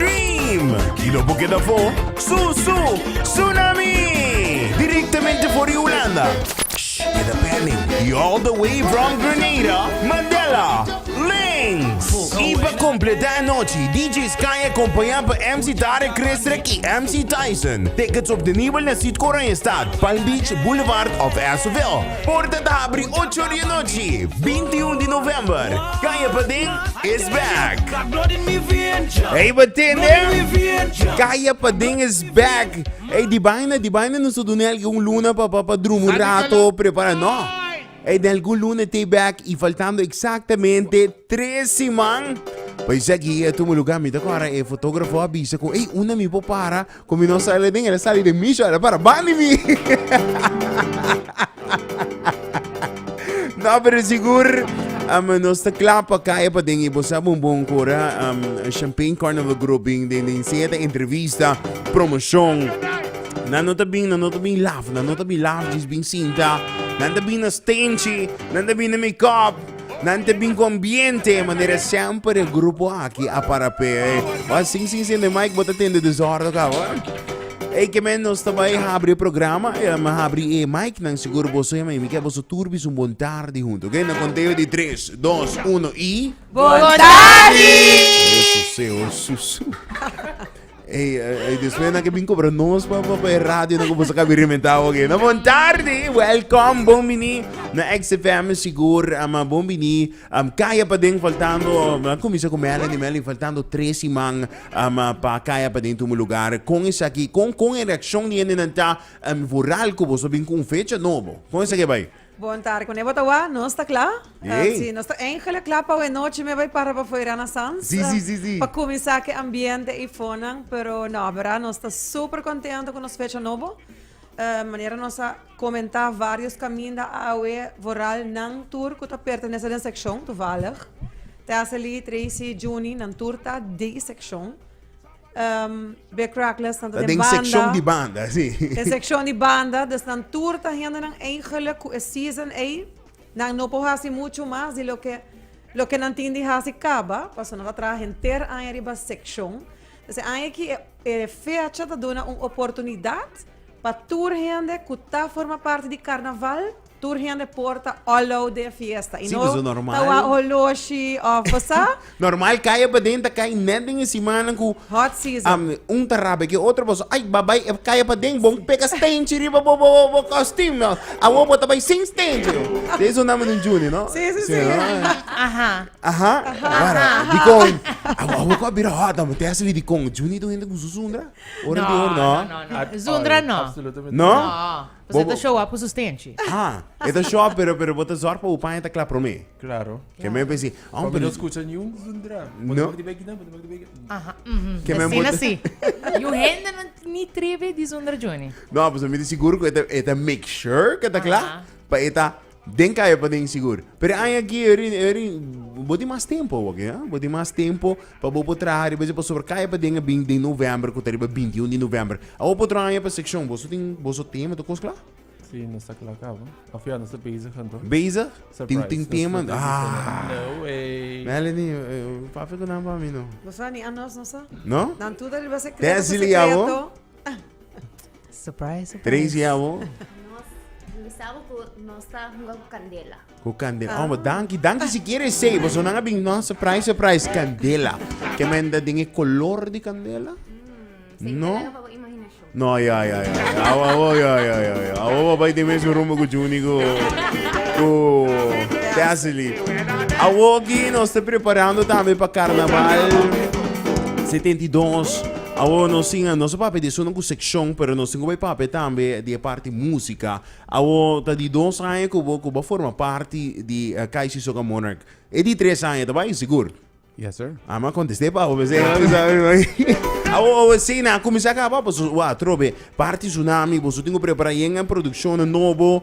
Team! Kilo bo keda fo? Su, su! Tsunami! Directamente for di Hulanda. Shh! Keda pending. Y all the way from Grenada, Mandela! Links! Y pa completa e nochi, DJ Sky acompaña pa MC Tarek Krestrek y MC Tyson. Tickets obtenibel na Sitco Oranjestad, Palm Beach, Boulevard of Asuville. Porta ta habri ocho di e nochi, binti un di november. Kaya paden is back! Ey, bo tende? Kaya paden is back! Ey, di baina, di baina nos ta duna elke un luna pa, pa, pa druma un rato, prepara, no. Ey, den elke un luna t'ey back y faltando exactamente tres siman pa esaki a tuma lugar. Mi ta kora e fotografo a bisa cu ey, unda mi por para? Cu mi no sali den el sali den mi sho el para bani mi No pero sigur um, nos ta klaar pa kaya pa den y bo sabi un bon cora um, Champagne Carnival Group bin den den siete entrevista promoción Nan no ta bin, nan no ta bin laf, nan no ta bin laf, jis bin sinta Nan ta bin na stingy, nan ta bin na make up Nan te bin con bien te manera siempre de grupo aquí a para pe. Eh. Wa sin sin sin de Mike bota ten de desordo ka wa. Ei que men nos ta bai habri programa, eh, me habri e Mike nan seguro boso ya mi que boso turbi un bon tarde junto, ok? Na conteo di 3, 2, 1 y Bon tarde. Eso se o susu. Ey, ey, después na que bin cobra nos pa pa pa radio na que bosa cabi rementa oke. Na bon tarde, welcome, bon bini. Na XFM sigur, ama bon bini. Am kaya pa den faltando, na comienza con Melanie, Melanie faltando tres siman ama pa kaya pa den tumu lugar. Con is aki, con con e reaccion di hende nan ta am voral cu boso bin con un fecha nobo. Con is aki bai? Bon tarde, cu ne bo ta wak? Nos ta cla. Yey. Si, nos ta eigenlijk cla pa awe nochi me bay para pafuera na Sanz. Sí, sí, sí, sí. Pa cuminsa cu e ambiente y fonan. Pero no, berda, nos ta super contento cu nos fecha nobo. Eh, manera nos a comenta varios caminda awe, vooral nan tur cu ta pertenece den seccion, toevallig. Tessely, Tracy, Junie, nan tur ta di seccion. um, be Crackless tanto den banda. sección di banda, sí. Den sección di banda, dus nan tour ta hende nan eigenlijk ku e season ei. Nan no por hasi mucho mas di lo ke lo ke nan tin di hasi kaba, paso nan ta traha henter aña riba sección. Dus e aña aki e, e fecha ta duna un oportunidat pa tur hende ku ta forma parti di karnaval Tur hende por ta olo den fiesta i Sí, no pues, normal. ta wak holoshi of bo sa? Normal kaya paden ta kai net den e simannan ku Hot season. am, un ta rabia ku e otro boso ai bo a bai e kaya paden bon peka stenchi riba bo bo bo kostim no awor bo ta bai sin stenchi ta esun nan manera Junie no Sí, sí, sí. Aha. aha awor dikon awor awor ko a bira hot amo te hasi wi dikon Junie ta un hende ku usa zundra ora anterior no No, no, no, no. Zundra no. Absolutamente No? No. Bo ta show up su stenchi. Ha, e ta show up pero pero bo ta zorg pa bo paña ta kla promé. Claro. Ke men besi, ah, Pa mi no skucha niun zundra. Bo ta No. bak di bek di nan, bo ta bak di bek di nan. Aha, mhm. Ke men Asina bota- si. Yu hende no ni tribi di zundra Juny. No, pues mi ta sigur ku e ta e ta make sure ke ta kla Aha. pa e ta Den kaya pa den sigur. Pero aña aki, bo tin mas tempo awor, ya? Bo tin mas tempo pa bo por traha riba esei pasobra kaya pa den a bin den novèmber ku ta riba binti un di novèmber. Awor pa otro aña pa sekshon boso tin boso tema ta kos kla? Sí, nos ta kla cabo. Of ya, nos ta bezig anto. Bezig? Tin tin Surprise. tema? Nos ta busy Ah! anto. No way. Melanie, eh, papia ku nan pa mi no. Boso a ni a nos, no sa? No? Nan tur ta riba secreto, Tezi pa li secreto. awo? Surprise, surprise. Tracy, y a bo? Nos, mi sa bo cu nos ta hunga cu candela. Cu candela. Oh, danki, danki si quiere say. Boso nan a bin, no, surprise, surprise, candela. Que men da den e color di candela? Say No. no. pa bo imaginacion. No, ja, ja, ja. Au, au, ja, ja, ja, ja. Au, au, bai de mes rumbo cu Juni cu... cu... Tesely. Au, aquí nos te preparando también pa carnaval 72. Awor nos tin, nos a papia di esun ku sekshon, pero nos tin ku bai papia tambe di e parti músika. Awor ta di dos aña ku bo ku bo a forma parti di KIC Soca Monarch. E di tres aña ta bai? Sigur? Yes sir. Ah, m'a kontest'é pa bo p'esei m'a bisa mi man. Awor awor esei nan a kuminsá kaba pasobra bo a trobe parti Tsunami, boso tin ku prepará yenga en produkshonnan nobo.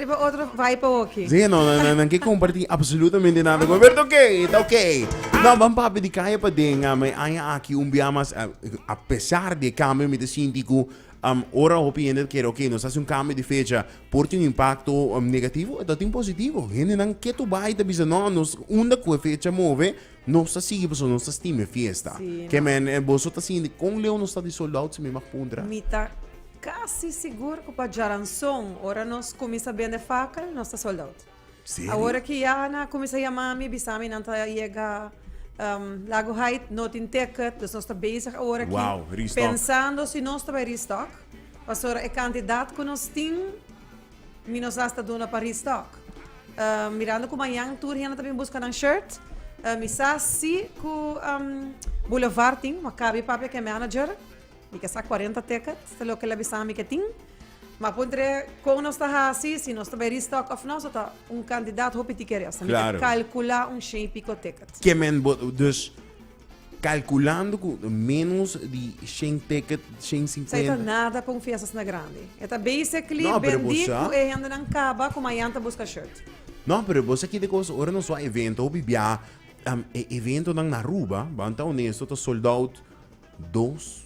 Riba otro bai pa hoki. Sí, no, no, no, nan ke kompartí apsolutamente nada ku mi, pero ta oké, ta oké. No, ban papia di kaya paden, a mi aña aki un biaha mas, a, a pesar di e kambio mi ta sinti ku, am, ora hopi hende ta kere oké, nos ta hasi un kambio di fecha, por tin un impakto negativo o ta tin positivo. Hendenan ke tu bai ta bisa no, nos unda ku e fecha move, Nos ta sigui pasobra nos ta stima e fiesta. Sí, Ke man. men, boso ta sinti kon leu nos ta di sold out si mi mag puntra? Mi ta casi sigur cu pa Djaranzon ora nos cuminsa bende fakel nos ta sold out. Serio? Awor aki ya nan a cuminsa yama mi bisa mi nan ta yega ehm Lago Haight no tin ticket dus nos ta bezig awor aki Wow, restock. pensando si nos ta bay restock pasobra e cantidad cu nos tin Mi nos hasta duna pa restock. Um, mirando cu mañan tur hende ta bin busca nan shirt, uh, mi sa si cu um, Boulevard tin, ma cabi papia que manager, mi que sa 40 teka, sta lo que la bisa mi que tin. Ma puntre con nos ta hasi, si nos ta bay restock of no, so ta un candidato hopi tikeresa. Mi claro. ta calcula un sheen pico ticket. Que men, dus Calculando cu menos di shen ticket, shen Sa e ta cincuenta. nada pa un fiestasna grandi. E ta basically No, pero bendi bosa- cu e hendenan caba cu mayan ta busca shirt. No, pero bo sa kende cos, ora nos wou a evento, hopi bia, am, e eventonan na Aruba, ban ta honesto, ta sold out dos,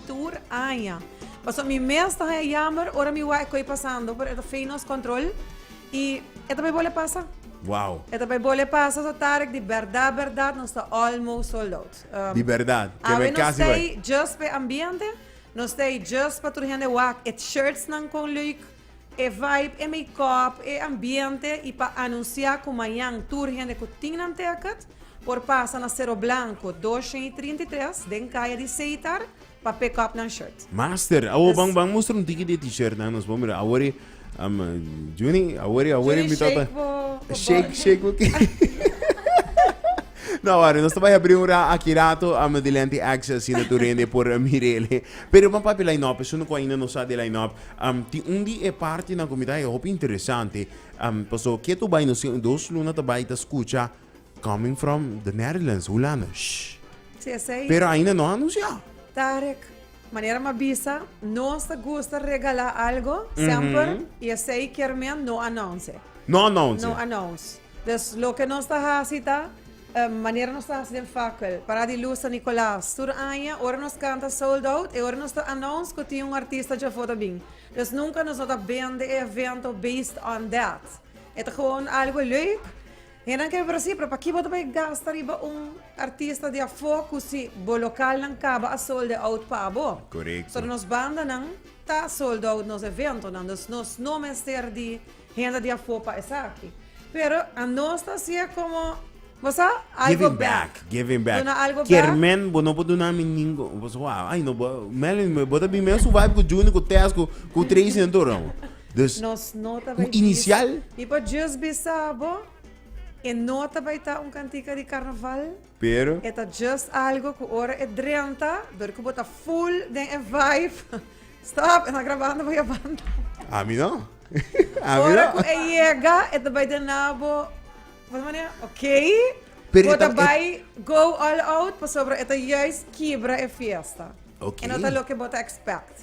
tur aña. Pasobra mi mes ta haña yamber ora mi wak e koe pasando, pero e ta fey nos control y e ta bay bole pasa. Wow. E ta bay bole pasa, so Tarek, di berdad, berdad, nos ta almost sold out. Um, Di berdad, ke Awe bay nos casi bay. stay just pe ambiente, nos stay just pa tur hende wak et shirtsnan con leuk. E vibe, e makeup, e ambiente y pa anuncia cu mañan tur hende cu tin Nantucket por pasa na Cerro Blanco doscientos y trinta y tres den caya di Seitar pa pick up nan shirt. Master, awor ban ban mustra un tiki di e t-shirtnan, nos por mira. Awor e, um, Junie, awor e, awor e mi tata. Shake bo, bo Shake, body. shake bo ki. No, awor, nos ta bai habri un ra aki rato, um, di Lenti Access, asina tur hende por mira ele. Pero ban papia line-up, esun cu ainda no sa di line-up, Am, tin un di e partinan ku mi ta e hopi interesante, am, paso ke tu bai nos tin un dos luna ta bai ta skucha Coming from the Netherlands, Hulanda, shh. Si esei. Pero ainda no a anunsiá. Tarek, manera m'a bisa, nos ta gusta regalá algo semper, i esei kier men no announce. No announce. No announce. Dus loke nos ta hasi ta, manera nos ta hasi den fakel, pará di lus San Nicolas. Tur aña, ora nos kanta sold out, e ora nos ta announce ku tin un artista djò for ta bin. Dus nunka nos no ta bende e evento based on that. E ta gewoon algu leuk. Hendenan ke por a si, pero pakí bo ta bai gasta riba un artista di afó ku si bo lokalnan kaba a solde out pa bo? Korekto. So nos bandanan ta sold out nos eventonan, dus nos no mester di. Hende di afó pa esaki. Pero a nos ta hacié como, bo sa, algo back. Giving back, Duna algo back. Kier men bo no por duna mi ningun, bo sa wou, ay no bo, Melvin bo ta bin mesun vibe ku Junior ku Tess ku ku Tracy en tur no. Dus Nos no ta bay un bisa. inicial. Mi por just bisa bo, e no ta bay ta un cantica di carnaval. pero. E ta just algo cu ora e drenta, dor cu bo ta full den e vibe, stop, e na grabando bo y a banda. A mi no. A mi no. Ora cu e yega, e ta bay den na bo, bo ta manera, okay, bo ta bay go all out, pasobra e ta juist kibra e fiesta. Okay. E no ta loke bo ta expect.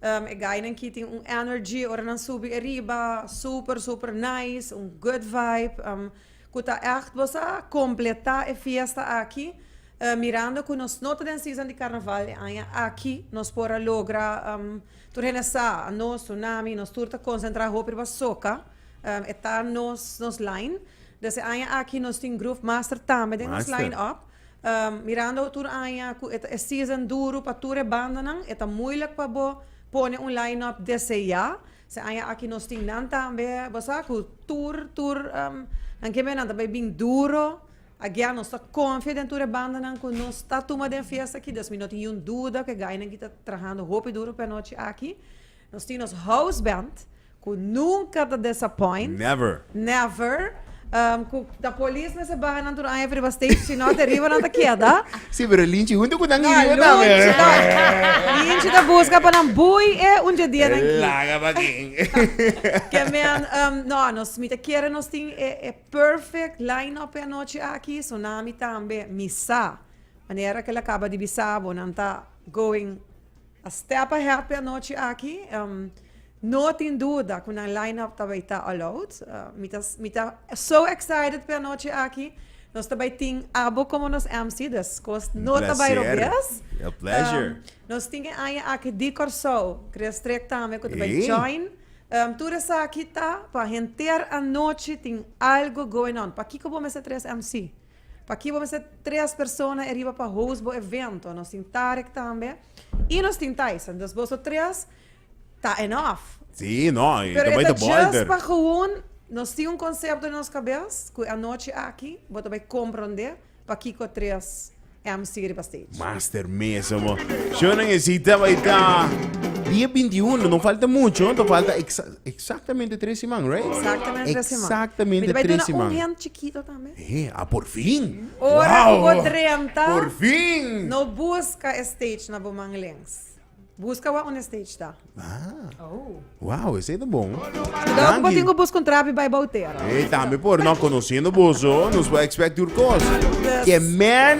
E gainan ki tin un energy ora nan subi e riba super super nice un good vibe ku ta echt bo sa completa e fiesta aki mirando ku nos no ta den season di carnaval e aña aki nos por a logra tur hende sa nos tur nan ami nos tur ta concentra hopi riba soca e ta nos nos line des e aña aki nos tin groove master tambe den nos line up. Mirando tur aña cu e ta e season duru pa tur e bandanan, e ta moeilijk pa bo pone un line-up desde ya. Se aña aki nos tin nan tambe, bo sa cu tur, tur nan ken bay, nan ta bay bin duro. Agia nos ta confia den tur e bandanan cu nos ta tuma den fiesta aki, dus mi no tin yiun duda cu e gainan aki ta trahando hopi duro p'e anochi aki. Nos tin nos house band cu nunca ta disappoint. Never. Never. Um, cu ta polis mester baha nan tur aña riba stage, si no te riba nan ta keda. Si, pero Linchi hunto cu nan iriba ta. Lunchi ta, Linchi ta busca pa nan bui e un dje dia nan ki. Laga pa kin. Ke men, um, no, nos, mi ta kere nos tin e, e perfect line-up e anochi aki, Tsunami tambe, mi sa manera ke el a caba di bisa bo, nan ta going A step ahead p'e anochi aki. No tin duda ku nan line-up ta bai ta all out. Mi ta mi ta so excited p'e anochi aki. Nos ta bai tin Abo komo nos MC dus kos no ta bai robes. A pleasure. Nos tin e aña aki di Kòrsou, Kruisdrieck tambe ku ta bai join. Tur esaki ta pa henter anochi tin algo going on. Pakiko bo mester tres MC? P'aki bo mester tres persona e riba pa host bo evento. Nos tin Tarek tambe i nos tin Tyson. Dus boso tres ta enof. Sí, no, i ta bai ta bolder. Pero e ta just pa gewoon, nos tin un concepto den nos cabes cu e anochi aki bo ta bai comprende pakico tres MC riba stage. Master mesa bo. Shownan e si ta bai ta dia bintiuno, no falta mucho, ta falta exactamente tres siman, right? Exactamente tres siman. Mi ta bai duna un hint chikito tambe. He, a por fin! Ora ku bo drenta, no buska e stage na bo man lens. Buska wak unda e stage ta. Wow, esei ta bon. Kudau ku bo tin ku bus ku un trapi bai bou tera. He, tambe por. No, konosiendo boso, nos por expect tur kos. Ke men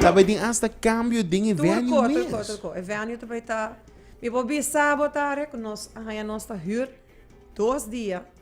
ta bai tin asta kambio den e venue mes. Tur ko, tur ko, tur ko. E venue ta bai ta, mi por bisa bo ta are ku nos a haña nos ta hür dos dia.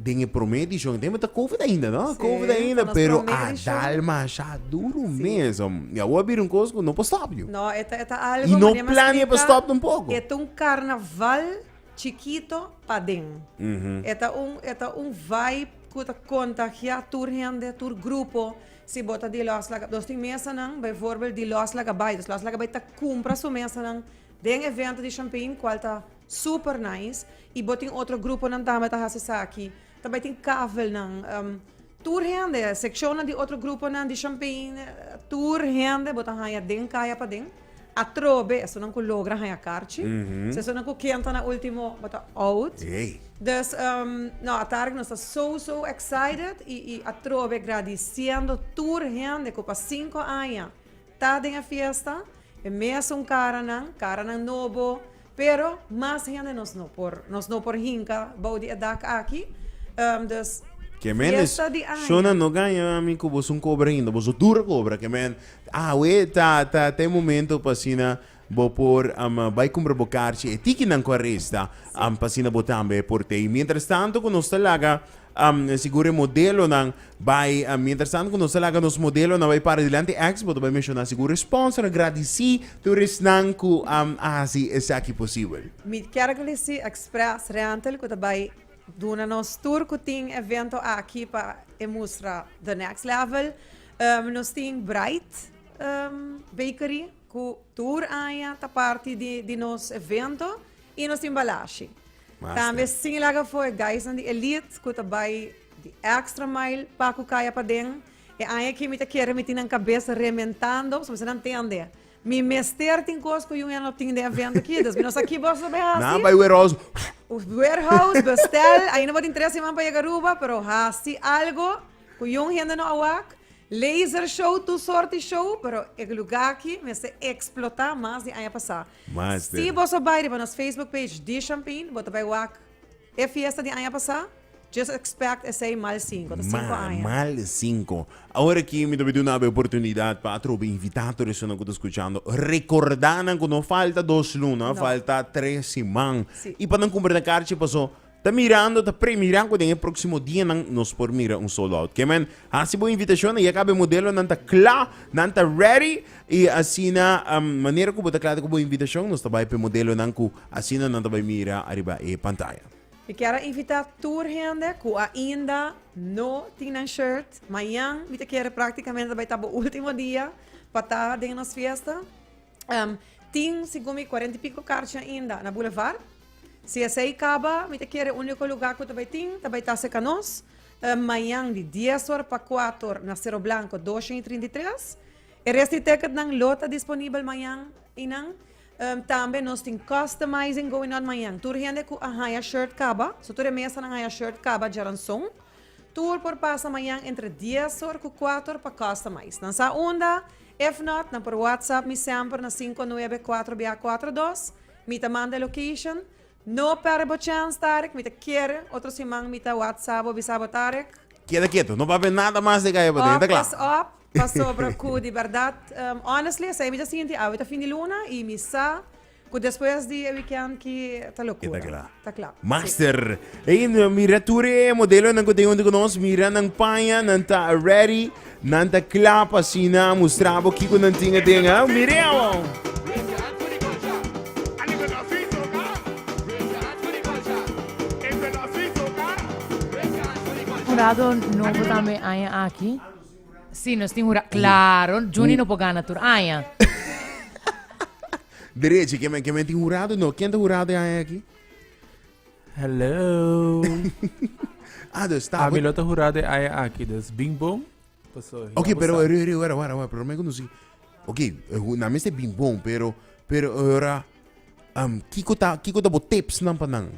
Den e prome edishon e tempo ta covid ainda, no? Sí, Covid pa ainda, nos pero prome a edishon. dal masha duro mes, om. Y awor bira un cos cu no por stop you. No, eta, eta algo Y no mane mas plania pa explica, stop tampoco. Eta un carnaval chikito paden. Mhm. Eta un, eta un vibe cu ta contagia tur hende, tur grupo. Si bo ta di Los Laga-, nos tin mesanan, bijvoorbeeld di Los Lagabay. Los Lagabay ta cumpra su mesanan den evento di Champain, cual ta. Super nice y bo tin otro gruponan tambe ta haci esaki ta bay tin kavelnan um tur hende seccionnan di otro gruponan di champey tur hende bo ta haya den kaya paden atrobe esonan cu logra haya karchi esonan cu ken ta na ultimo bo ta out dus um no atarde nos ta so so excited y y atrobe gradiciendo tur hende cu pa cinco aña. Ta den e fiesta, e mesun karanan, karanan nobo, pero mas hende nos no por, nos no por hinka bou di e dak aki. Dus, Kemenes, fiesta di aña. Shona no gaña ami ku boso un kobra ainda, boso dura kobra, kemen, awe ta ta ta e momento pa asina Bo por ama bai cumpra bo carchi e tikinan cu a resta, am pa asina bo tambe por tei. Mientras tanto cu nos ta laga, am sigur e modelonan bai, am mientras tanto cu nos ta laga nos modelonan bai para dilanti, ex bo ta bai menciona sigur e sponsor a gradici tur esnan cu am a haci esaki posibel. Mi kier glisi Express Rental cu ta bai duna nos tur cu tin evento aki pa e mustra the next level. Nos tin Bright Bakery. Cu tur aña ta parti di di nos evento y nos tin balashi. Tambe sin laga fo e guysnan di Elite cu ta bay di extra mile pa cu caya paden. E aña aki mi ta kere mi tin nan cabes rementando, so mi sa nan tende mi mester tin cos cu Union lo tin den evento aki, dus mi no sa ki bos lo bay hasi. Nan bay warehouse huf. Warehouse bestel, ainda bo tin tres siman pa yega Aruba, pero hasi algo cu Young hende no a wak Laser show tur sorti show pero e luga aki mester explota mas di aña pasa. Master. Si boso bai riba nos Facebook page di Champain bo ta bai wak e fiesta di aña pasa just expect esey mal sinku ta sinku Ma, aña. mal sinku. Awor aki mi ta bai duna bo e oportunidad pa atrobe invita tur esunnan ku ta skuchando rekorda nan ku no falta dos luna No. falta tres siman Si. i pa nan kumpra nan karchi paso Ta mirando, ta premira cu den e proximo dianan nos por mira un sold out. Ke men, haci bo invitacion, ya cabe modelonan ta cla, nan ta ready, y asina um, manera cu bo ta cla cu bo invitacion, nos ta bay pe modelonan cu asina nan ta bay mira ariba e pantaya. Mi kier a invita tur hende cu ainda no tin nan shirt. Mayan mi ta kere practicamente bay ta bo ultimo dia pa ta den nos fiesta. Em, tin, segun mi, cuarenta y pico carchi ainda na Boulevard. Si esei caba, mi ta kere unico lugar cu ta bay tin, ta bay Tase Canoes. Em, mañan di dies or pa cuatro or na Cerro Blanco doscientos y trinta y tres. E rest di ticketnan lo ta disponibel mañan eynan. Em, tambe nos tin customizing going on mañan. Tur hende cu a haya shirt caba, so tur e mesanan haya shirt caba djaranson. Tur por pasa mañan entre dies or ku kuater pa kosta mais. Nan sa unda? If not, nan por whatsapp mi semper na sinku a nuebe kuater bia a kuater dos. Mi ta manda e location. No pèrdè bo chèns, Tarek. Mi ta kere otro siman mi ta whatsapp bo bisa bo, Tarek. Keda ketu. No papia nada mas di akei pasobra ta kla. Op is op, pasobra ku di bèrdat, honestly, esei mi ta sinti. Awe ta fin di luna i mi sa Cu despues di e weekend ki ta locura. Ta cla. Master. Ey, mira tur e modelonan cu tin junto cu nos. Mira nan paña, nan ta ready, nan ta cla pa asina mustra bo kico nan tin aden. Ah, mira awor. Curado nobo tambe aña aki. Sí, nos tin hura. Claro, Juni no por gana tur aña. Derechi, ke men, ke men tin hurado? No, ken ta hurado e aña aki? Hello. ah, dus ta. Ami lo ta hurado e aña aki, dus bing bom. Paso, ok, pero eri, eri, wara, wara, wara, pero men conocí. Ok, na mi se bing bom, pero, pero ora. Am kiko ta kiko ta bo tips nan pa nan?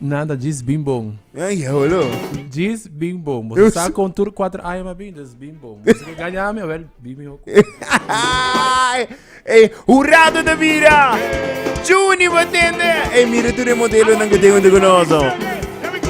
Nada, djis bin bon. Ay, holo. Djis bin bon. Bo Yo sa su- kon tur 4 aña ma bin, djis bin bon. Bo sa gaña mi, wel, bin mi hoko. Ay, ey, hurado te mira. Juni batende. Ey, mira tu de modelo nan que tengo de conoso. Here we go.